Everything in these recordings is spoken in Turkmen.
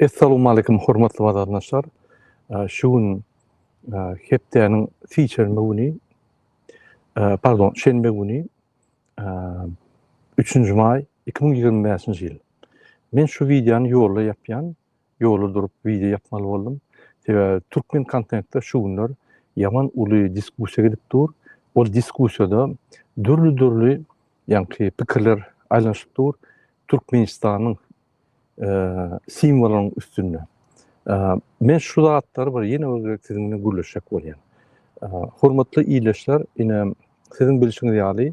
Essalowmalikim hormatly wazandaşlar. Şu gün hepdäniň siçerme güni, pardon, şenbe güni, 3-nji maý 2025-nji ýyl. Men şu wideony ýolda ýapýan, Ýola durup wideo ýapmaly boldum. Sebäbi türkmen kontentde şu günler ýaman uly diskussiýa gidip dur. Ol diskussiýada dürli-dürli ýaňky pikirler aýlanyşyp dur. Türkmenistanyň simwolynyň üstünde. Men şu zatlary bir ýene bir gezek siziň bilen gürleşjek bolýan. Hormatly ildeşler, ine siziň bilşiňiz ýaly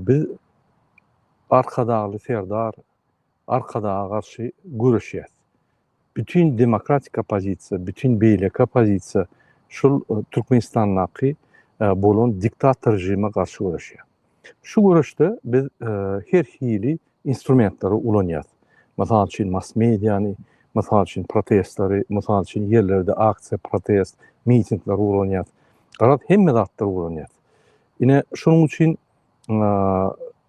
biz Arkadagly Serdar Arkadaga garşy göreşýäs. Bütin demokratik oppozisiýa, bütin beýleki oppozisiýa şul Türkmenistandaky bolan diktator režime garşy göreşýär. Şu göreşde biz her hili instrumentleri ulanýas. Mysal üçin mass-mediany, mysal üçin protestleri, mysal üçin ýerlerde aksiýa, protest, mitingleri ulanýas. Garaz hemme zatlary ulanýas. Ine şonuň üçin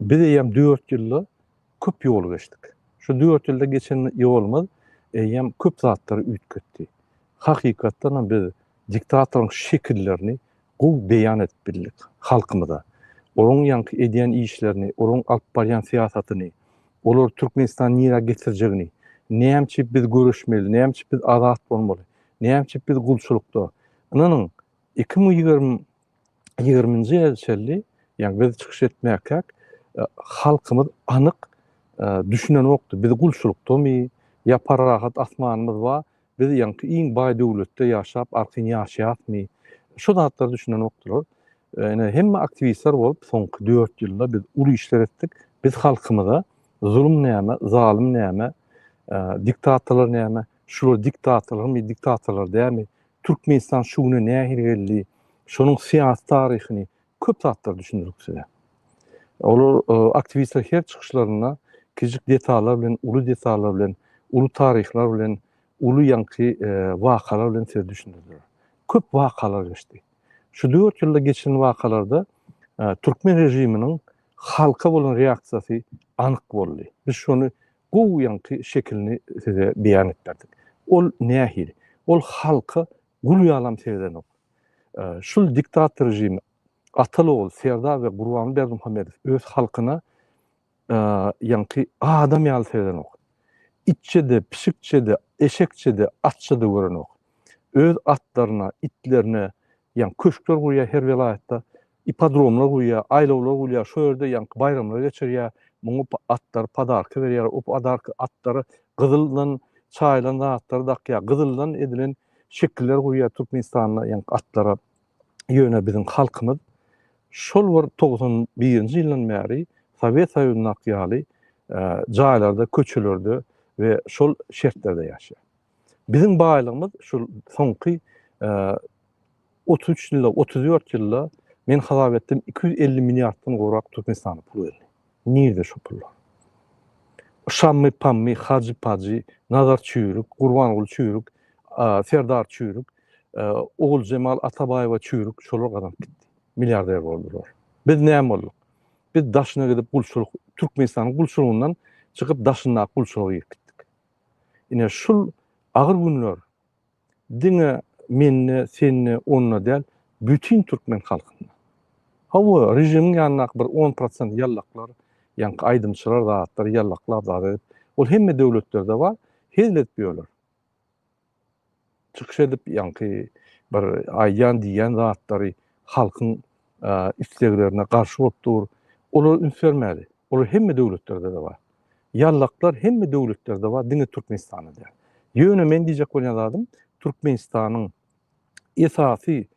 biz eýýäm dört ýylda Köp ýol geçdik. Şu dört ýylda geçen ýolumyz eýýäm köp zatlary üýtgetdi. Hakykatdanam biz diktatoryň şekillerini gowy beýan edip bildik halkymyza. Olaryň ýaňky edýän işlerini, olaryň alyp barýan syýasatyny, olar Türkmenistany nirä getirjegini, näme üçin biz göreşmeli, näme üçin biz azat bolmaly, näme üçin biz gulçulykda. Ynanyň, iki müň ýigrimi 20-nji ýyla çenli, ýagny biz çykyş etmäkäk, e, halkymyz anyk e, düşünenokdy. Biz gulçulykdamy, ýa parahat asmanymyz bar, biz ýaňky iň baý döwletde ýaşap, arkaýyn ýaşaýasmy? Şu zatlara düşünenokdylar. E, ine, hemme aktiwistler bolup, soňky dört ýylda biz uly işler etdik. Biz halkymyza zulum näme, zalym näme, diktatorlar näme, şular diktatorlarmy, diktatorlar dämi, Türkmenistan şu güne nähili geldi, şonuň syýasy taryhyny, köp zatlary düşündirdik size. Olar aktiwistler her çykyşlarynda kiçijik detallar bilen, uly detallar bilen, uly taryhlar bilen, uly ýaňky wakalar bilen size düşündirdiler. Köp wakalar geçdi. Şu dört ýylda geçen wakalarda türkmen režiminiň halka bolan reaksiýasy anyk boldy. Biz şony gowy ýaňky şekilini size beýan etberdik. Ol nähili? Ol halka gul ýalam seredenok. Şul diktator režimi Atal-ogul, Serdar we Gurbanguly Berdimuhamedow öz halkyna ýaňky adam ýaly seredenok. Itçe-de, pişikçe-de, eşekçe-de, atça-da görenok. öz atlaryna, itlerine ýaňky köşkler gurýar her welaýatda, ipodromlar gurýar, aýlawlar gurýar, şo ýerde ýaňky baýramlary geçirýär, muňa atlary podarka berýär, o podarka atlara gyzyldan çaýylan zatlary dakýar, gyzyldan edilen şekiller gurýar Türkmenistanda ýaňky atlara, ýöne biziň halkymyz şol bir togsan birinji ýyldan bäri Sowet Soýuzyndaky ýaly jaýlarda, köçelerde we şol şertlerde ýaşaýar. Biziň baýlygymyz şu soňky 33 ýylda, 34 ýylda men hasap etdim 250 milliarddan gowrak Türkmenistana pul geldi. Nirde şu pullar? Şammy, Pammy, Hajy, Pajy, Nazar Çüýrük, Gurbanguly Çüýrük, Serdar Çüýrük, Oguljemal Atabaýewa Çüýrük şolar gazanyp gitdi. Milliarder boldular. Biz näme bolduk? Biz daşyna gidip gulçulyk, Türkmenistanyň gulçulygyndan çykyp daşyndaky gulçulyga girip gitdik. Ine, şul agyr günler diňe mende, sende, onda däl, bütin türkmen halkynda. Hawa, režimiň ýanyndaky bir on prosent ýallaklar, ýaňky aýdymçylar zatlar ýallaklap zat edip, ol hemme döwletlerde bar, hezil edip ýörler. çykyş edip, ýaňky bir aýdýan, diýýän zatlary halkyň isleglerine garşy bolup dur. Olar üns bermäli. Olar hemme döwletlerde-de bar. Ýallaklar hemme döwletlerde bar, diňe Türkmenistanda däl. Ýöne men diýjek bolýan zadym, Türkmenistanyň esasy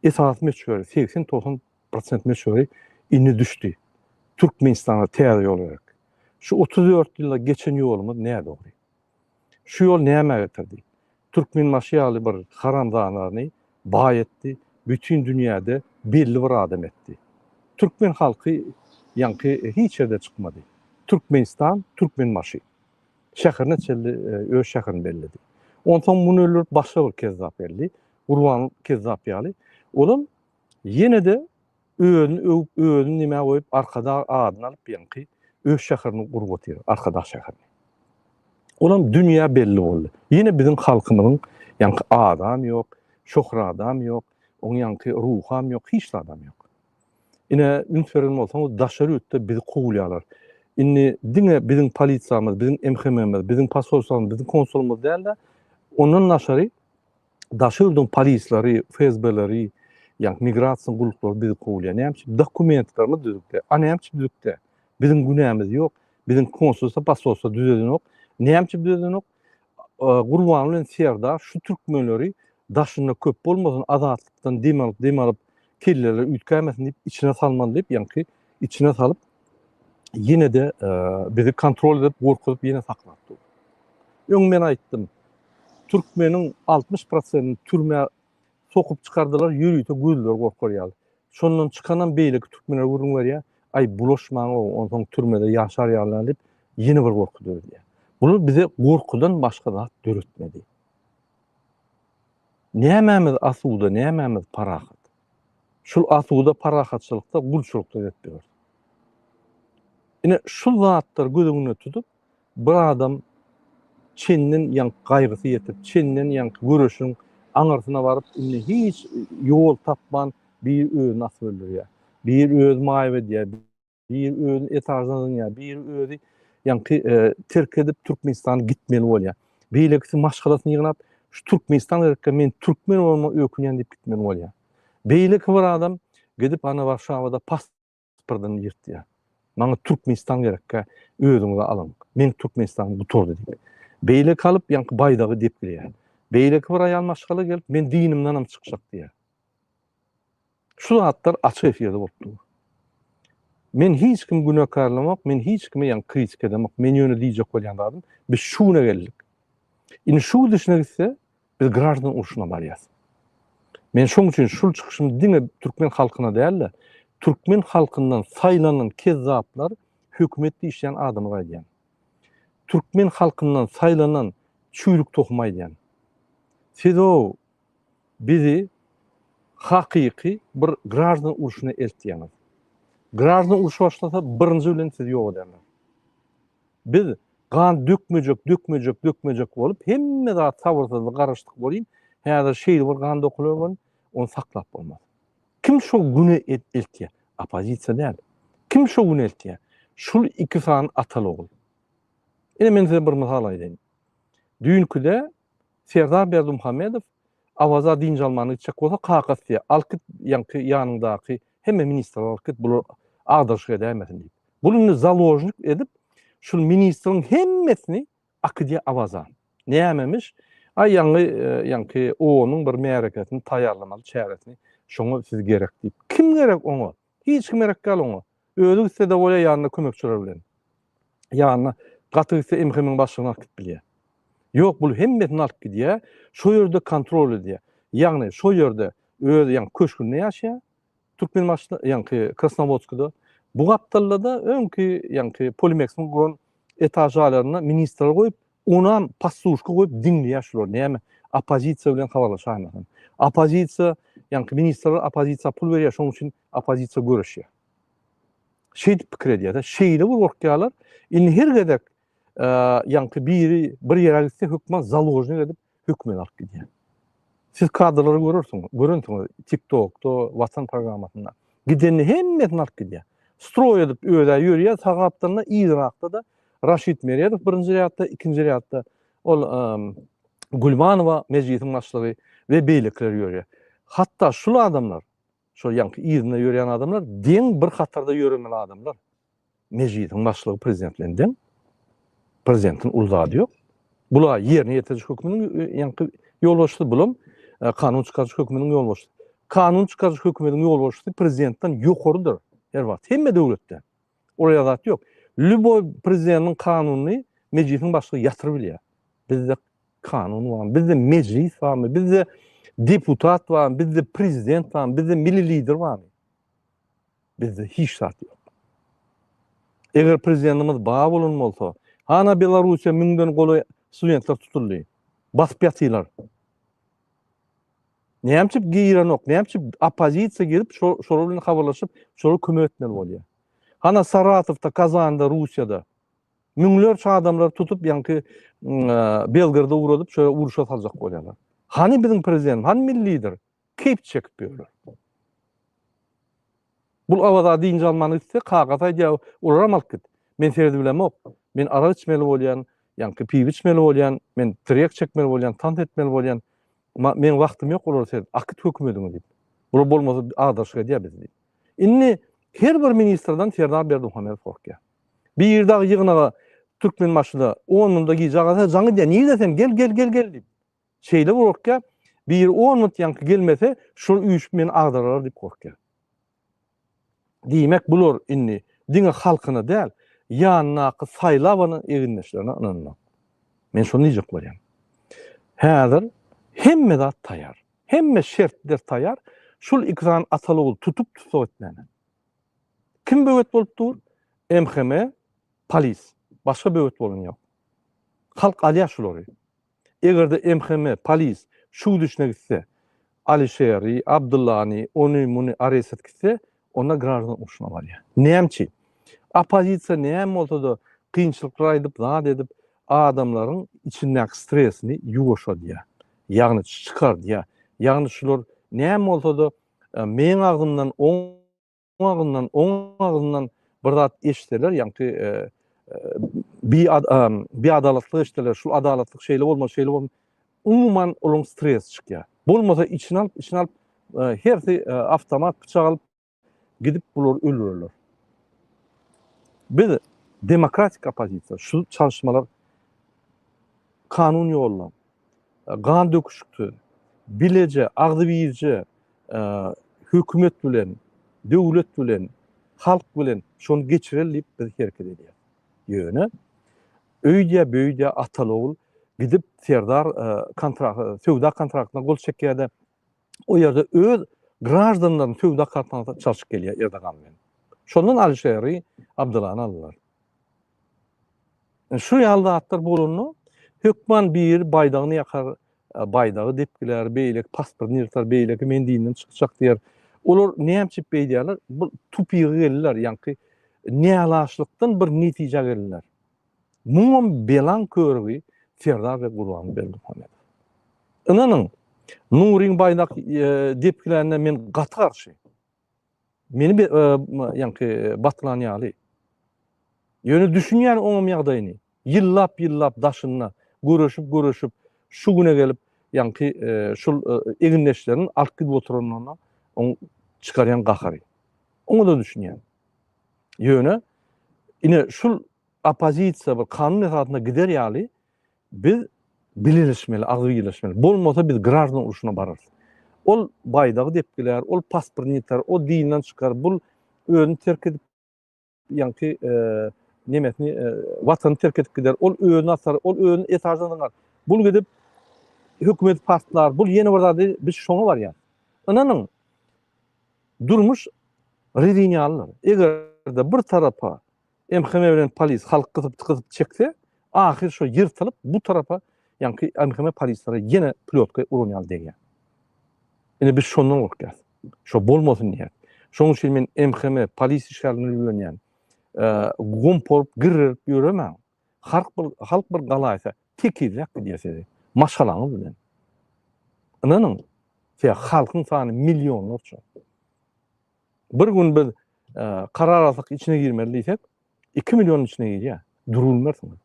esasy möçberi segsen-togsan Prosent möçberi indi düşdi. Türkmenistana täze ýol gerek. Şu otuz dört ýylda geçen ýolumyz nädogry. Şu ýol nämä getirdi? Türkmenbaşy ýaly bir haramzanany baý etdi, bütin dünýäde belli bir adam etdi. Türkmen halky ýaňky hiç ýerde çykmady. Türkmenistan, Türkmenbaşy. Şäherine çenli öz şäherini belledi. Onsoň muny öldürip başga bir kezzap geldi. Gurban kezzap ýaly. Olam Ýene-de özüni öwüp, özüni nime goýup, Arkadag adyny alyp ýaňky öz şäherini gurup otyr, Arkadag şäherini. Olam dünýä belli boldy. Ýene biziň halkymyzyň ýaňky adam ýok, şohradam ýok, oň ýaňky ruham ýok, hiç zadam ýok. Ine, üns beren bolsaňyz, daşary ýurtda bizi kowulýarlar. Indi diňe biziň polisiýamyz, biziň MHM-miz, biziň posolstwamyz, biziň konsulymyz däl-de, ondan daşary, Daşary ýurduň polisleri, FSB-leri, ýa migrasiýa gulluklary bizi kowlaýar. Näme üçin? Dokumentlerimiz düzükde. A näme üçin düzükde? Biziň günämiz ýok. Biziň konsulsa, posolsa düzedenok. Näme üçin düzedenok? Gurban bilen Serdar şu türkmenleri daşynda köp bolmasyn azatlykdan dem alyp, dem alyp, pilleler üýtgämesin diýip içine salmaly diýip ýaňky içine salyp ýene de e, bizi kontrol edip gorkuzyp ýene saklap dur. Öň men aýtdym. Türkmeniň 60% türmä sokup çykardylar ýörite gözler gorkar ýaly. Şondan çykanam beýleki türkmenler gürrüň berýär. Aý bulaşmaň o, onsoň türmede ýaşar ýalylar diýip ýene bir gorky döredýär. Bunu bize gorkudan başga zat döretmedi. Nämämiz asuda, nämämiz parahat? Şul asuda parahatçylykda gulçulykda gezip ýörüs. Ine, şul zatlary göz öňünde tutup, bir adam çenden ýaňky gaýgysy ýetip, çenden ýaňky göreşiň aňyrsyna baryp, indi hiç ýol tapman, bir özüni asyp öldürýär, bir özi maýyp edýär, Biri özüni etajdan zyňýar, biri özi ýaňky e, terk edip Türkmenistana gitmeli bolýar. Beýlekisi maşgalasyny ýygnap, şu Türkmenistan gerekkä men türkmen bolma ökünýän diýip gitmeli bolýar. Beýleki bir adam gidip ana Warşawada pasportyny ýyrtýar. Maňa Türkmenistan gerekkä özüňizi alyň. Men Türkmenistan gutardy diýip. Beýleki alyp ýaňky baýdagy depgilýär. Beýleki bir aýal maşgala gelip men dinimden hem çykjak diýär. Şu zatlar açyk efirde bolup dur. Men hiç kimi günekarlamok, men hiç kimi ýaňy kritika edemok. Men ýöne diýjek bolýan zadym, biz şu güne geldik. Indi şu gidişine gitse, biz graždan urşuna barýas. Men şoň üçin şul çykyşymy diňe türkmen halkyna däl-de, türkmen halkyndan saýlanan kezzaplar hökümet diýişýän adamyz aýdýan. Türkmen halkyndan saýlanan çüýrük tohumy aýdýan. Siz-ow Bizi hakyky bir graždan urşuna eltýäňiz. Graždan urşy başlasa birinji bilen sizi ýok ederler. Biz gan dökmejek, dökmejek, dökmejek bolup hemme zat sabyrsyzlyk garaşdyk bolýyn. Häzir şeýle bir gan dokular bolýyn, ony saklap bolmaz. Kim şo güne eltýär? Oppozisiýa däl. Kim şo güne eltýär? Şul iki sany atal-ogul. Ine men size bir mysal aýdaýyn. Düýnküde Serdar Berdimuhamedow Awaza dynç almagyna gitjek bolsa, kakasy diýýär, Alyp git ýaňky ýanyňdaky hemme ministrleri alyp git, bular agdaryşyk edäýmesin diýip. Bul indi založnik edip, şul ministriň hemmesini akydýar Awaza. Nämemiş, aý ýaňy ýaňky OON-yň bir märekesini taýýarlamaly çäresini, şoňa siz gerek diýip. Kim gerek oňa? Hiç kim gerek däl oňa. Özi gitse-de bolýar ýanynda kömekçiler bilen. Ýanyna gaty gitse MHM-iň başlygyny alyp gidip bilýär. Ýok, bul hemmesini alyp gidýär, şo ýerde kontrol edýär. Ýagny şo ýerde öz ýaňky köşgünde ýaşaýar, Türkmenbaşyda, ýaňky Krasnowodskda. Bu gapdalda-da öňki ýaňky Polimeksiň guran etažalaryna ministrleri goýup, Onam pasluşka goýup diňleýär şular näme oppozisiýa bilen habarlaşaýmasyn. Oppozisiýa ýaňky ministrler oppozisiýa pul berýär şonuň üçin oppozisiýa göreşýär. Şeýdip pikir edýärler. Şeýle bir gorkýarlar. Indi her gezek ýaňky biri bir ýere gitse hökman založnik edip hökmüni alyp gidýär. Siz kadrlary görersiňiz, görensiňiz TikTokda, Watan programmasynda. Gidenini hemmesini alyp gidýär. Stroý edip özä ýörýär, sag gapdalynda yzrakda-da Raşid Meredow birinji rýadda, ikinji rýadda ol Gulmanowa, mejlisiň başlygy we beýlekiler ýörýär. Hatda şul adamlar, şol ýaňky yzynda ýörýän adamlar deň bir hatarda ýöremeli adamlar. Mejlisiň başlygy prezident bilen deň. Prezidentiň uly zady ýok. Bula ýerine ýetiriş hökmüniň ýaňky ýolbaşçysy bulam e, kanun çykaryş hökmüniň ýolbaşçysy. Kanun çykaryş hökmüniň ýolbaşçysy prezidentden ýokarydyr her wagt. Hemme döwletde. Ol ýazat ýok. Lüboý prezidentiň kanunyny mejlisiň başlygy ýatyryp bilýär. Bizde kanun bar, bizde mejlis barmy, bizde deputat barmy, bizde prezident barmy, bizde milli lider barmy? Bizde hiç zat ýok. Eger prezidentimiz bar bolan bolsa, hana Belarussiýa müňden golaý studentler tutuldy. Basyp ýatylar. Nämçip girenok, nämçip oppozisiýa girip, şolar bilen habarlaşyp, şolara kömek etmeli bolýar. Hana Saratowda, Kazanda, Russiýada müňlerçe adamlar tutup, ýaňky Belgrada ugradyp, şöyle uruşa saljak bolýarlar. Hany biziň prezident, hany milli lider? Keýp çekip ýörler. Bul Awaza dynç almany gitse, kakasyna aýdýar, olaram alyp git. Men seredip bilemok. Men arak içmeli bolýan, ýaňky piwe içmeli bolýan, men tirýek çekmeli bolýan, tans etmeli bolýan. Ma, meň wagtym ýok olary seredip. Akyt hökümediňi diýip. Bular bolmasa azaşyk edýär bizi diýip. Indi her bir ministrden Serdar Berdimuhamedow gorkýar. Bir ýerde dagy ýygnaga Türkmenbaşyda on munda gije agasa jaň edýär. Nirde sen? Gel, gel, gel, gel diýip. Şeýle gorkýar, biri on minut ýaňky gelmese, şol üýşüp meni agdaralar diýip gorkýar. Diýmek, bular indi diňe halkyna däl, ýanyndaky saýlabana egindeşlerine ynanmaz. Men şony diýjek bolýan. Häzir hemme zat taýar. Hemme şertler taýar. Şul iki sany ataly-ogul tutup tussag etmäne. Kim böwet bolup dur? MHM, polis. Başga böwet bolan ýok. Halk alýar şulary. Eger-de MHM, polis, şu gidişine gitse, Alişeri, Abdyllany, ony, muny aressat gitse, onda graždan urşuna barýar. Näme üçin? Oppozisiýa näme bolsa-da kynçylyklar aýdyp, zat edip, adamlaryň içindäki stresini ýuwaşadýar. Ýagny çykardýar. Ýagny şular näme bolsa-da meň agzymdan oň. agzyndan, oň agzyndan bir zat eşitseler, ýagty bi bi adalatly eşitseler, şul adalatlyk şeýle bolmaly, şeýle bolmaly, umuman olaň stresi çykýar. Bolmasa içini alyp, içini alyp, hersi awtomat pyçak alyp gidip bulary öldürerler. Biz demokratik oppozisiýa, şu çalyşmalar kanun ýolla, gandöküşiksiz, bileje, agzybirje hökümet bilen, döwlet bilen, halk bilen şony geçireli diýip biz hereket edýäris. Ýöne öýdýä-böýdýä atal-ogul gidip Serdar söwda kontraktyna gol çekýär-de, o ýerde öz graždanlaryny söwda kartanasyna çalşyp gelýär Erdogan bilen. Şondan Alişeri Abdulany aldylar. Şu ýaly zatlar bolanda hökman bir baýdagyny ýakar, e, baýdagy depgiler, beýleki pasportyny ýyrtar, beýleki men dinden çykjak diýer. Olar näme üçin beýdýärler? Bu tupigy geldiler, ýaňky nälaşlykdan bir netijä geldiler. Muňam belaň körügi Serdar we Gurban Berdimuhamedow. Ynanyň, Nuryň baýdak depgilänine men gaty garşy. Meni bir ýaňky batlan ýaly. Ýöne düşünýän oňam ýagdaýyny. Ýyllap ýyllap daşynda göreşip göreşip şu güne gelip ýaňky şul egindeşlerini alyp gidip oturanyna oň çykarýan gahary. Oňada düşünýän. Ýöne ine şul oppozisiýa bir kanun esasynda gider ýaly biz bileleşmeli, agzy birleşmeli. Bolmasa biz graždan uruşyna bararys. Ol baýdagy depgiler, ol pasportyny ýitar, o dinden çykar, bul özüni terk edip ýaňky e, nemesini e, watany terk edip gider. Ol özüni atar, ol özüni esasan zyňar. Bul gidip hökümeti partlar, bul ýene bir zady biz şoňa barýar. Ynanyň, Durmuş rezin ýalydyr. Eger-de bir tarapa MHM bilen polis halk gysyp-gysyp çekse, ahyr şo ýyrtylyp bu tarapa, ýaňky MHM polislere ýene plýotka uran ýaly degýär. Ine biz şondan gorkýas. Şo bolmasyn diýýäs. Şoň üçin men MHM polis işgärlerini ülgenýän. Gum porup, girrerip ýöremäň. Halk bir, halk bir galaýsa, tekizräk gidýär size, maşgalaňyz bilen. Ynanyň, size halkyň sany millionlarça. Bir gün biz karar alsak içine girmeli diýsek, 2 million içine girýär. Durulmersiňiz.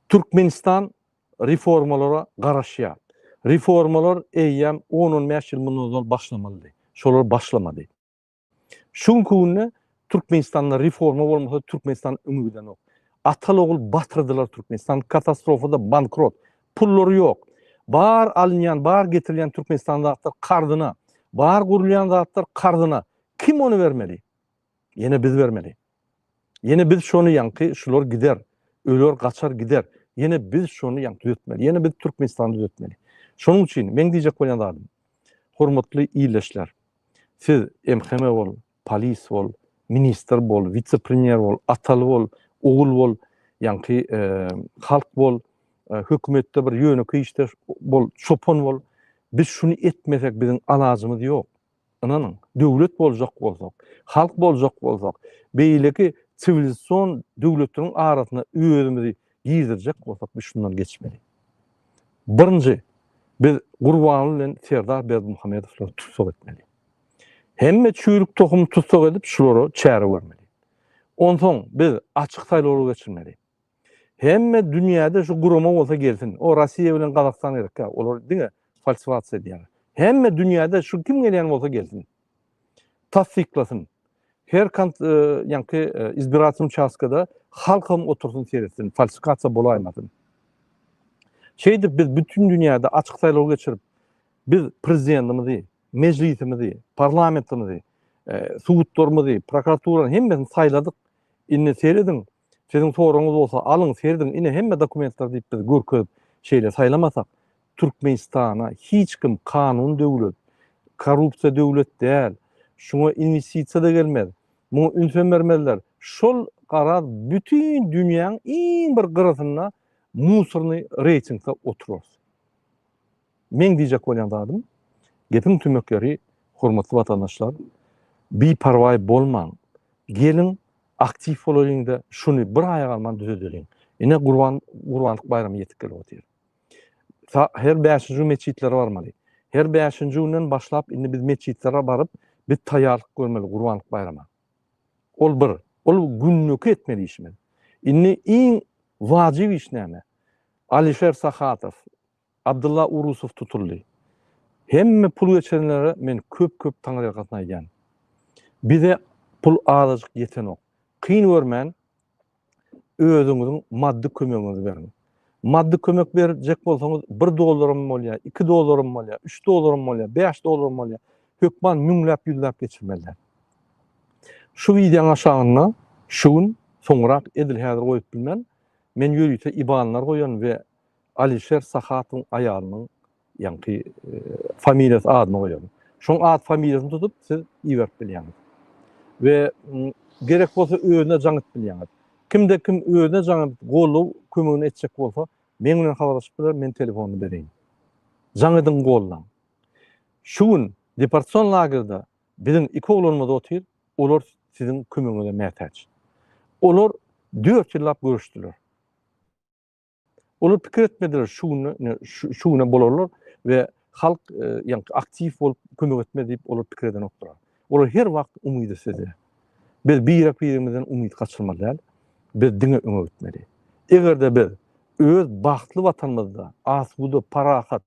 Türkmenistan reformalara garaşýar. Reformalar eýýäm 10-15 ýyl mundan ozal başlamalydy. Şolar başlamady. Şu günki günde Türkmenistanda reforma bolmasa Türkmenistan öňe gidenok. Atal ogul batyrdylar Türkmenistan katastrofada bankrot. Pullary yok. Bar alynýan, bar getirilýän Türkmenistan zatlar karzyna. Bar gurulýan zatlar karzyna. Kim ony bermeli? Yine biz bermeli. Ýene biz şony ýaňky şular gider, öler gaçar gider, ýene biz şony ýaňky düzetmeli, ýene biz Türkmenistany düzetmeli. Şonuň üçin meň diýjek bolýan zadym, hormatly ildeşler, siz MHM bol, polis bol, ministr bol, wise-premýer bol, ataly bol, ogul bol, ýaňky halk bol, hökümetde bir ýönekeý işdeş bol, çopan bol, biz şuny etmesek biziň alajymyz ýok. Ynanyň, döwlet boljak bolsak, halk boljak bolsak, beýleki siwilizasion döwletleriň arasyna özümizi girizjek bolsak, biz şundan geçmeli. Birinji, biz Gurbanguly bilen Serdar Berdimuhamedowlary tussag etmeli. Hemme çüýrük tohumy tussag edip, şulara çäre görmeli. Onsoň biz açyk saýlawlar geçirmeli. Hemme dünýäde şu gurama bolsa gelsin. O Rossiýa bilen Gazagystan gerekkä? Olar diňe falsiwasiýa edýär. Hemme dünýäde şu kim gelýän bolsa gelsin. Tassyklasyn. Her kant e, ýanky e, izbiratim çaskada halkam otursyn seretsin, falsifikasiýa bolaýmasyn. Şeýdip biz bütün dünýäde açyk saýlaw geçirip, biz prezidentimizi, mejlisimizi, parlamentimizi, e, subutlarymyzy, prokuraturany hemmesini saýladyk. Indi serediň, Siziň soragyňyz bolsa alyň serediň ine hemme dokumentler diýip biz görkezip şeýle saýlamasak Türkmenistana hiç kim kanun döwlet korrupsiýa döwlet däl şuňa inwestisiýada gelmez muňa ünsem bermezler şol garaz bütin dünýäň iň bir gyrasynda musornyý reýtingde oturars. Meň diýjek bolýan zadym, gepiň tümekleri, hormatly watandaşlar, biparwaý bolmaň. Geliň, aktiw bolalyň-da, şuny bir aýa galman düzedeliň. Ine, Gurban, Gurbanlyk baýramy ýetip gelip otyr. Ta her bäşinji gün metjitlere barmaly. Her bäşinji günden başlap, indi biz metjitlere baryp, biz taýýarlyk görmeli Gurbanlyk baýrama. Ol bir. Ol günlük etmeli işimiz. Indi iň wajyp iş näme? Alişer Sahatow, Abdylla Urusow tutuldy. Hemme pul geçirenlere men köp-köp taňyrýalkasyn aýdýan. Bize pul azajyk ýetenok. Kyn görmän, özüňiziň maddy kömegiňizi beriň. Maddy kömek berjek bolsaňyz bir dollaram bolýa, iki dollaram bolýa, üç dollaram bolýa, bäş dollaram bolýa, hökman müňläp, ýüzläp geçirmeliler. Şu wideoň aşagynda şu gün, soňrak, edil häzir goýup bilmen, men ýörite ibanlar goýan we Alişer Sahatowyň aýalynyň ýaňky familiýasy adyna goýalym. Şoň at familiýasyny tutup siz iberip bilýäňiz. We gerek bolsa özüne jaň edip bilýäňiz. Kimde kim özüne jaň edip goldaw kömegini etjek bolsa meň bilen habarlaşyp biler men telefonyny bereýin. Jaň ediň goldaň. Şu gün deportasion lagerde biziň iki oglanymyz otyr, olar siziň kömegiňize mätäç. Olar dört ýyllap göreşdiler. Olar pikir etmediler şu güne şu güne bolarlar we halk e, yani aktiv bolup kömek etme diýip olar pikir eden oklar. Olar her wagt umydy söze. Biz bir birimizden umyt kaçırmaly däl. Biz diňe öňe gitmeli. Eger de biz öz bagtly watanymyzda asuda, parahat,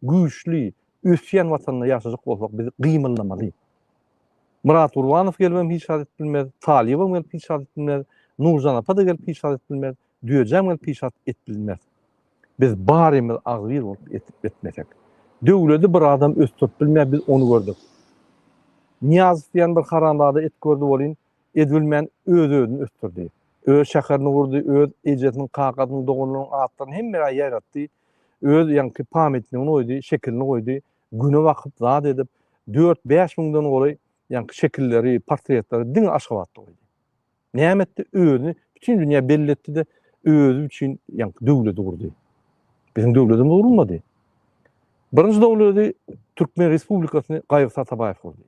güýçli, ösýän Watanda ýaşajak bolsak, biz gymyldamaly. Myrat Gurbanow gelibem hiç zat edip bilmez, Talyýewem gelip hiç zat edip bilmez, Nurjan apa-da gelip hiç zat edip bilmez, Düýejäm gelip hiç zat edip bilmez. Biz barymyz agzybir bolup edip etmesek. Döwledi bir adam ösdürip bilmär, biz ony gördük. Nyýazow diýen bir haramzada edip gördi welin, edibilmän öz-özüni ösdürdi. Öz şäherini gurdy, öz ejesiniň, kakasynyň, doganlarynyň atlaryny hemmä ýaýratdy. Öz ýaňky pamýatnigini goýdy, şekilini goýdy, güne bakyp, zat edip, dört-bäş müňden golaý ýaňky şekilleri, portretleri diňe Aşgabatda goýdy. Näme etdi? Özüni bütin dünýä belli etdi-de, özi üçin ýaňky döwleti gurdy. Biziň döwletimiz gurulmady. Birinji döwleti Türkmen Respublikasyny Gaýyrt Atabaýew gurdy.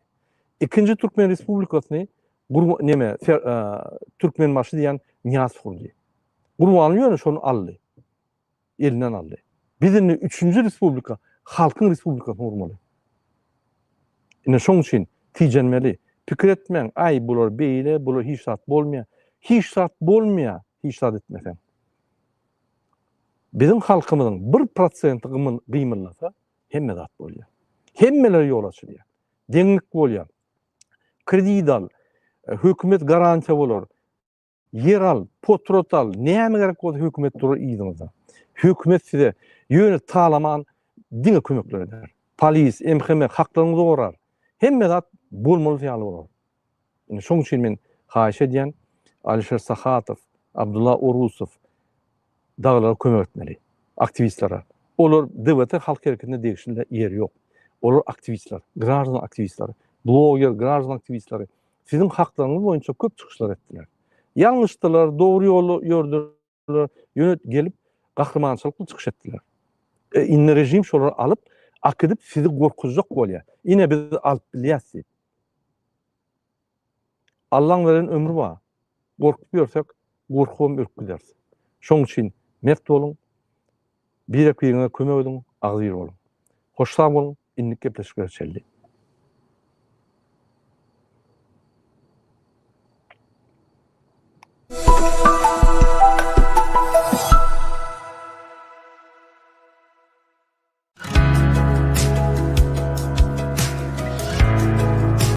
Ikinji Türkmen Respublikasyny Gurban neme, Türkmenbaşy diýen Nyýaz gurdy. Gurbanly ýöne şony aldy. elinden aldy. Biz indi üçünji respublika halkyň respublikasyny gurmaly. Ine şoň üçin tijenmeli. Pikir etmäň, aý bular beýle, bular hiç zat bolmaýar. Hiç zat bolmaýar, hiç zat etmeseň. Biziň halkymyzyň bir prosenti gymyllasa, hemme zat bolýar. Hemmeler ýol açylýar. Deňlik bolýar. Kredit al, hökümet garantiýa bolar. Ýer al, potrot al, näme gerek bolsa hökümet durar yzyňyzda. Hökümet size ýöne talaman diňe kömekler eder. Polis, MHM haklaryňyzy gorar. Hemme zat bolmalysy ýaly bolar. Indi şoň üçin men haýyş edýän Alişer Sahatow, Abdulla Orusow Dagylara kömek etmeli. Aktiwistlere. Olar DVT halk hereketinde degişinde ýeri ýok. Olar aktiwistler, graždan aktiwistler, bloger, graždan aktiwistleri siziň haklaryňyz boýunça köp çykyşlar etdiler. Ýalňyşdylar, dogry ýoly ýördiler, ýöne gelip gahrymançylykly çykyş etdiler. E, indi režim şolary alyp, akidip sizi gorkuzjak bolýar. Ine biz alyp bilýäs diýip. Allaň beren ömri bar. Gorkup ýörsek, gorkubam ürkgideris. Şoň üçin mert boluň, birek-biriňize kömek ediň, agzybir boluň. Hoşsag boluň, indik gepleşiklere çenli.